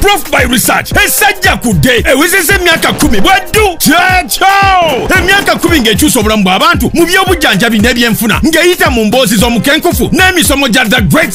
approved by research esajja kudde ewezeza emyaka kumi bwaddu kyakyo emyaka kumi ng'ekyusa obulamu bw'abantu mu by'obujjanjabi n'ebyenfuna ng'eyita mu mboozi z'omukenkufu n'emisomo gya the great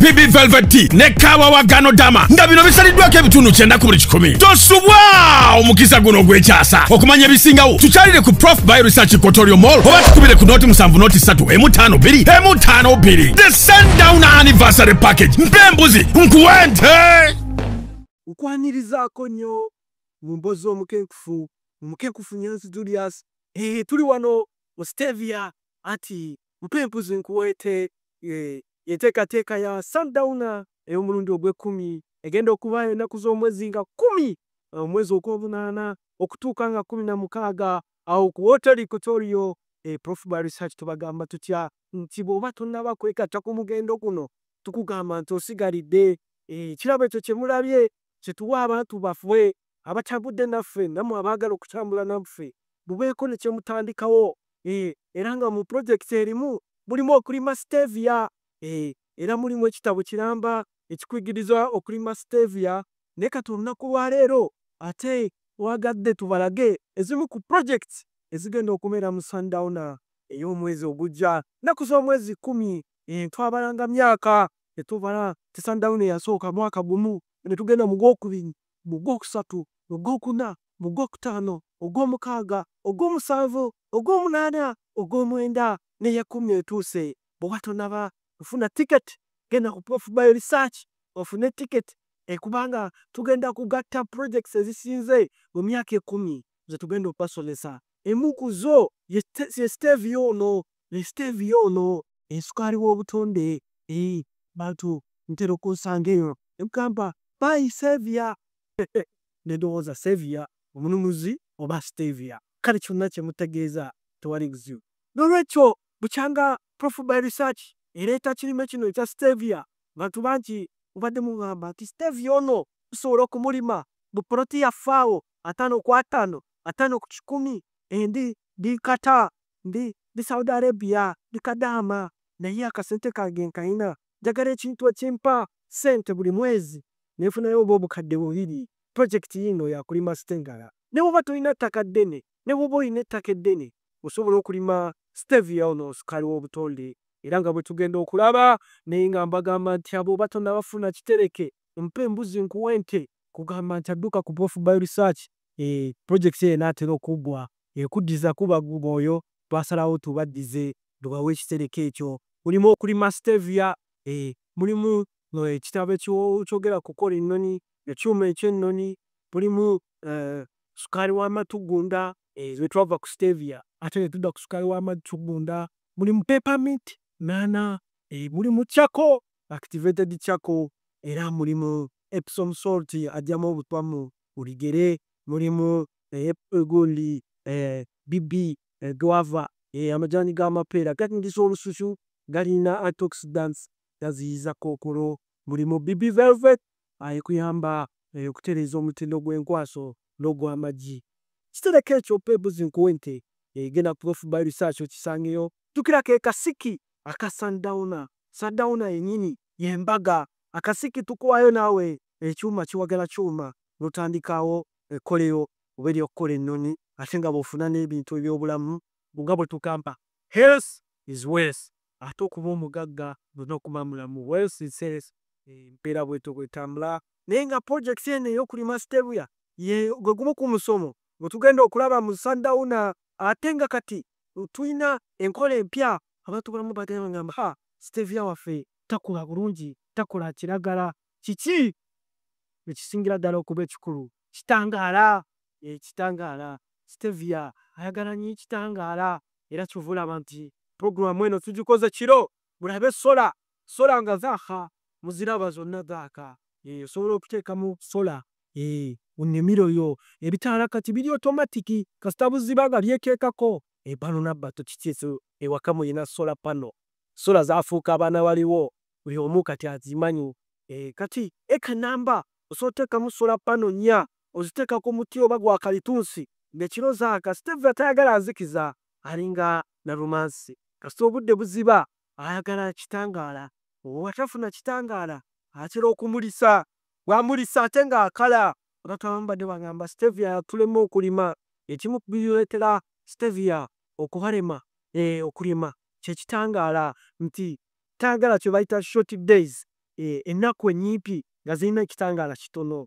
bibi velvet tea ne kaawa wa gano dama nga bino bisaliddwako ebitundu kyenda ku buli kikumi tosubwa omukisa guno ogw'ekyasa okumanya ebisingawo tukyalire ku prof by research kotorio mall oba tukubire ku nooti musanvu nooti ssatu emu ttaano bbiri emu ttaano bbiri the sundown anniversary package mpa embuzi nkuwente nkwanirizaako nnyo mu mbozi omukenkufu omukenkufu nyanzi julius eh, tuli wano mu stevia ati Mpa embuzi nkuweete y'enteekateeka ya Sundowner ey'omulundi ogw'ekkumi egenda okubaayo ennaku z'omwezi nga kkumi omwezi ogw'omunaana okutuuka nga kkumi na mukaaga awo ku wooteeri Kotorio. Prof ba Research tubagamba tutya nti bw'oba tonnaba kwegatta ku mugendo guno tukugamba nti osigalidde. Ekirabo ekyo kye mulabye kye tuwa abantu baffe abatambudde naffe namwe abaagala okutambula naffe mubeeko ne kye mutandikawo eh, era nga mu pulojekiti erimu mulimu okulima stevia eh, era mulimu ekitabo kiramba ekikuyigiriza okulima stevia naye kati olunaku lwaleero ate twagadde tubalage ezimu ku pulojekiti ezigenda okubeera mu sundowner ey'omwezi ogujja nnaku z'omwezi kkumi eh, twabalanga myaka tetubala ti sundowner yasooka mwaka gumu ne tugenda mu gwokubiri mu Gwokusatu, mu Gwokuna, mu Gwokutaano, Ogwomukaaga, Ogwomusanvu, Ogwomunaana, Ogwomwenda n'Eyekumi etuuse. Bw'oba tonnaba kufuna ticket, genda ku Prof Bio Research ofune ticket kubanga tugenda kugatta projects ezisinze mu myaka ekumi ze tugenda okubasomesa. Emu ku zo ye Stevia ono ne stevia ono esukaali w'obutonde ee bantu ntera okunsanga eyo ne mugamba bayi stevia ne ndowooza stevia omununuzi oba stevia kale kyonna kye mutegeeza tewali buzibu n'olwekyo bukyanga prof by research ereeta kirime kino ekya stevia bantu bangi mubadde mungamba nti stevia ono tusobola okumulima mu poloti yaffe awo ataano ku ataano ataano ku kikumi endi ndi nkata ndi ndi Saudi Arabia ndi kadaama naye akasente kange nkayina njagala ekintu ekimpa sente buli mwezi nefunayo oba obukadde bubiri project yiino yakulima stengala nebwoba tolina ttaka ddene nebwoba olina ettaka eddene osobola okulima stevia ono sukali wobutonde era nga bwetugenda okulaba naye nga mbagamba nti abwoba tonaba funa kitereke mpa embuzi nkuwe ente kugamba nti adduka ku prof by research eeh project eyo enatera okuggwa. ekuddiza kuba guma oyo twasalawo tubaddize tubawe ekitereke ekyo mulimu okulima stevia eeh mulimu no ekitabo ekyogera kukola ennoni ekyuma eky'ennoni mulimu eeh sukaali wa matugunda eeh bwetwava ku stevia ate netudda ku sukaali wa matugunda mulimu peppermint nana eeh mulimu charcoal activated charcoal era mulimu epsom salt ajjamu obutwa mu buli gere mulimu eh, egondi eh, bibi eh, guava eh, amajani g'amapeera gatingiza olususu galina antioxidants gaziyiza kookolo mulimu bibi velvet ayekuyamba ah, eh, okutereeza omutindo gw'enkwaso n'ogw'amagi kitereka ekyo pebuzi nkuwe nte eh, genda prof by research okisangeyo tukira ke kasiki aka sundowner sundowner yenyini yembaga akasiki tukuwayo naawe ekyuma kiwagala kyuma notandikaawo ekkolero oba ery'okukola ennyonyi ate nga bw'ofuna n'ebintu eby'obulamu nga bwe tugamba health is wealth ate okuba omugagga olina okuba mulamu wealth is health embeera bw'etyo bw'etambula naye nga pulojekiti eno ey'okulima stevia ye gwe gumu ku musomo gwe tugenda okulaba mu Sundowner ate nga kati tulina enkola empya abantu abamu bagenda bagamba ha stevia waffe takula bulungi takola kiragala Kiki ekisingira ddala okuba ekikulu? Kitangaala. Yee, kitangaala. Stevia ayagala nnyo ekitangaala. Era ky'ova olaba nti programu eno tugikoze kiro. Mulabe sola. Sola nga zaaka. Muziraba? Zonna zaaka. Yee, osobola okuteekamu sola, yee, mu nnimiro yo. Ebitaala kati biri otomatiki, kasita buziba nga byekeekako. Ebalo n'abbato kiki ekyo? Ewaka mulina sola pano. Sola zaafuuka abaana waliwo. buli omu kati azimanyi. Kati eka namba osobola oteekamu solar panel nnya oziteeka ku muti oba gwa kalitunsi ng'ekiro zaaka. Stevia tayagala nzikiza alinga Nalumansi kasita obudde buziba ayagala kitangaala. Bw'atafuna kitangaala atera okumulisa, bw'amulisa ate ng'akala. Abantu abamu badde bagamba Stevia yatulema okulima. Ekimu ku bireetera Stevia okubalema okulima kye kitangaala nti tayagala kyebayita short days eh, ennaku enyimpi nga zirina ekitangaala kitono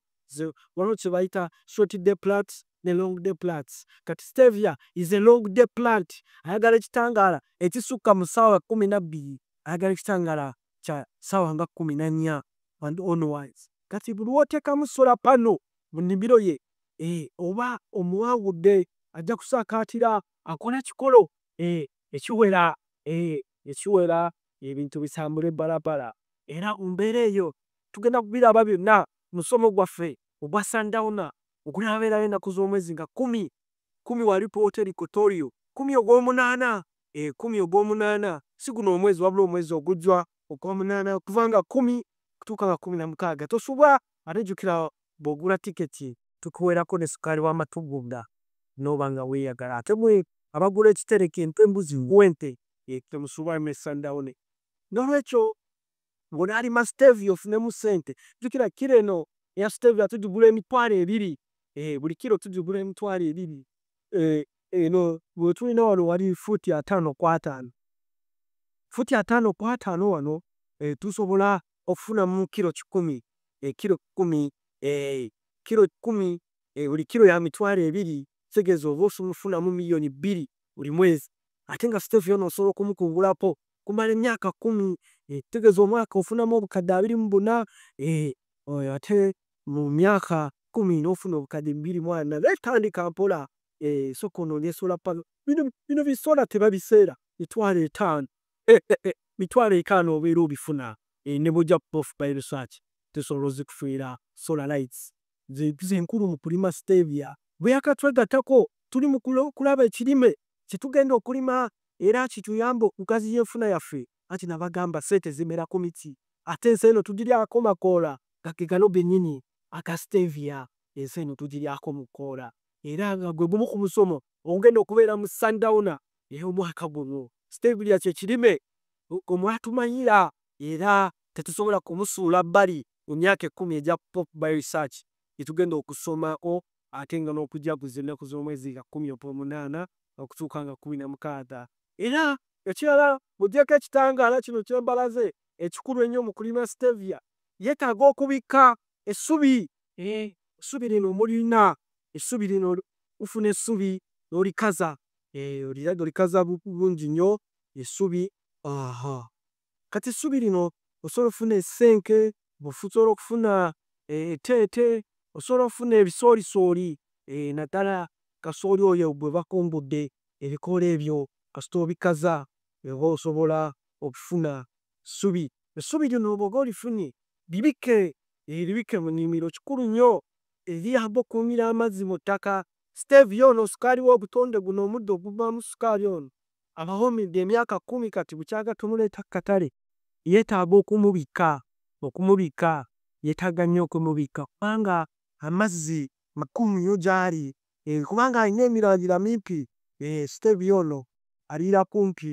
waliwo kyebayita short day plant ne long day plant kati stevia is a long day plant ayagala ekitangaala ekisukka mu saawa kumi nabbiri ayagala ekitangaala kya saawa nga kumi nanya and onwards kati buli wotekamu sola pano mu nimiro ye eh, oba omuwangudde ajja kusakaatira akole kikolo eh, ekiwera eh, ne kiwera ebintu bitambule balabala era mu mbeera eyo tugenda kubiraba byonna mu musomo gwaffe ogwa Sundowner ogunaabeerawo ennaku z'omwezi nga kkumi, kkumi wa lipoota Equatorial, kkumi ogw'omunaana, ee, kkumi ogw'omunaana, si guno omwezi wabula omwezi ogujja ogw'omunaana okuva nga kkumi okutuuka nga kkumi na mukaaga. Tosubwa ate jjukira bwogula ticket tukuwerako ne sukali wa matugunda noba nga weyagala ate mwe abagula ekitereke empe embuzi ngu ente temusuba eme sundown nolwekyo bona alima stevia ofunemu sente jukira kilo eno eya stevia tujigula emitwalo ebiri eeh buli kilo tujigula emitwalo ebiri eeh eno gwetulina wano wali foot atano kwatano foot atano kwatano wano eeh tusobola ofunamu kilo kikumi eh, kilo kikumi eh, kilo kikumi eh, buli kilo ya mitwalo ebiri kitegeeza oba osumufunamu miliyoni bbiri buli mwezi ate nga siteefu yona osobola okumukungulako kumala emyaka kumi eh, kitegeeza omwaka ofunamu obukadde abiri mu buna eh, oyo ate mu myaka kumi n'ofuna obukadde bibiri mwana naye tandika mpola eh, soka onoonye esola pano bino bisola tebabiseera mitwalo etaano mitwalo etaano obeera obifuna eeh ne bwojja kuba ofubye research tesobola ozikufiira solar lights ze nkulu mu kulima stevia bweyaaka twegattako tuli mu kulaba ekirime kye tugenda okulima era kituyambe okugaziya enfuna yaffe anti nabagamba sente zimera ku miti ate ensi eno tugiryako makoola nga ge gano gennyini aga stevia ensi eno tugiryako mu koola era nga gwe gumu ku musomo ogugenda okubeera mu sundowner era omwaka guno stevia kyekirime omwatumanyira era tetusobola kumusuula bbali mu myaka ekkumi egya pop by research gyetugenda okusomako ate nga n'okujaguza ennaku z'omwezi nga kkumi ogwomunaana okutuuka nga kkumi na mukaaga era ekirala mugyeko ekitangaala kino kyembalaze ekikulu ennyo mu kulima stevia yetaaga okubikka essubi essubi lino mulina essubi lino lifuna essubi nolikaza Eeh olirabye olikaza bulungi nyo esubi ahaa kati esubi lino osobola ofuna esenke, osobola okufuna etete, osobola ofuna ebisolisoli eeh nadala kasooli oyo gwebakombodde ebikoola ebyo kasita obikaza oba osobola okufuna esubi, esubi lino bwoba olifunye libike eeh libike munimiro kikulu nyo eri ago okumira amazi muttaka Stevia ono sukaali w'obutonde guno omuddo oguvaamu sukaali ono abawummidde emyaka kkumi kati bukyanga tumuleeta ku katale yeetaaga okumubikka okumubikka yeetaaga nnyo okumubikka kubanga amazzi makulu nnyo gy'ali kubanga alina emirandira mimpi Stevia ono aliira kumpi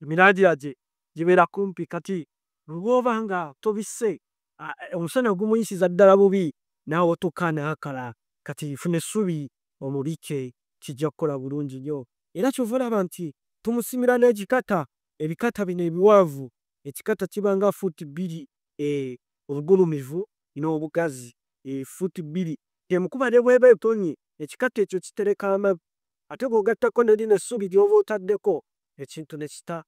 emirandira gye gibeera kumpi kati bwoba nga tobisse omusana gumuyisiza ddala bubi nawotoka nakala kati funa essubi omubikke kijja kukola bulungi nnyo era kyova olaba nti tumusimira nekikata ebikata bino ebiwanvu ekikata kiba nga fuuti bbiri obugulumivu nobugazi fuuti bbiri kyemukuba nebweba etonye ekikata ekyo kitereka amabi ate bwogattako nelino essubi lyoba otaddeko ekintu nekita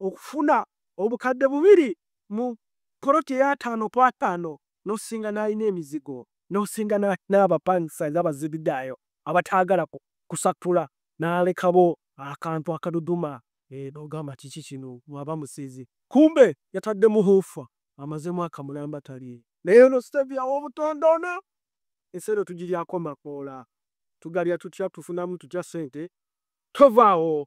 okufuna obukadde bubiri mu poloti ey'ataano ku ataano n'osinga n'alina emizigo n'osinga n'abapangisa nga baziridaayo abataagala kusattula n'alekabo akantu akaduduma n'ogamba kiki kino bw'aba musezi kumbe yatadde muhuufa amaze mwaka mulamba talye. Naye ono Stevia w'obutonde ono ensi eno tugiryako makoola? Tugalya tutya? Tufunamu tutya ssente? Tovaawo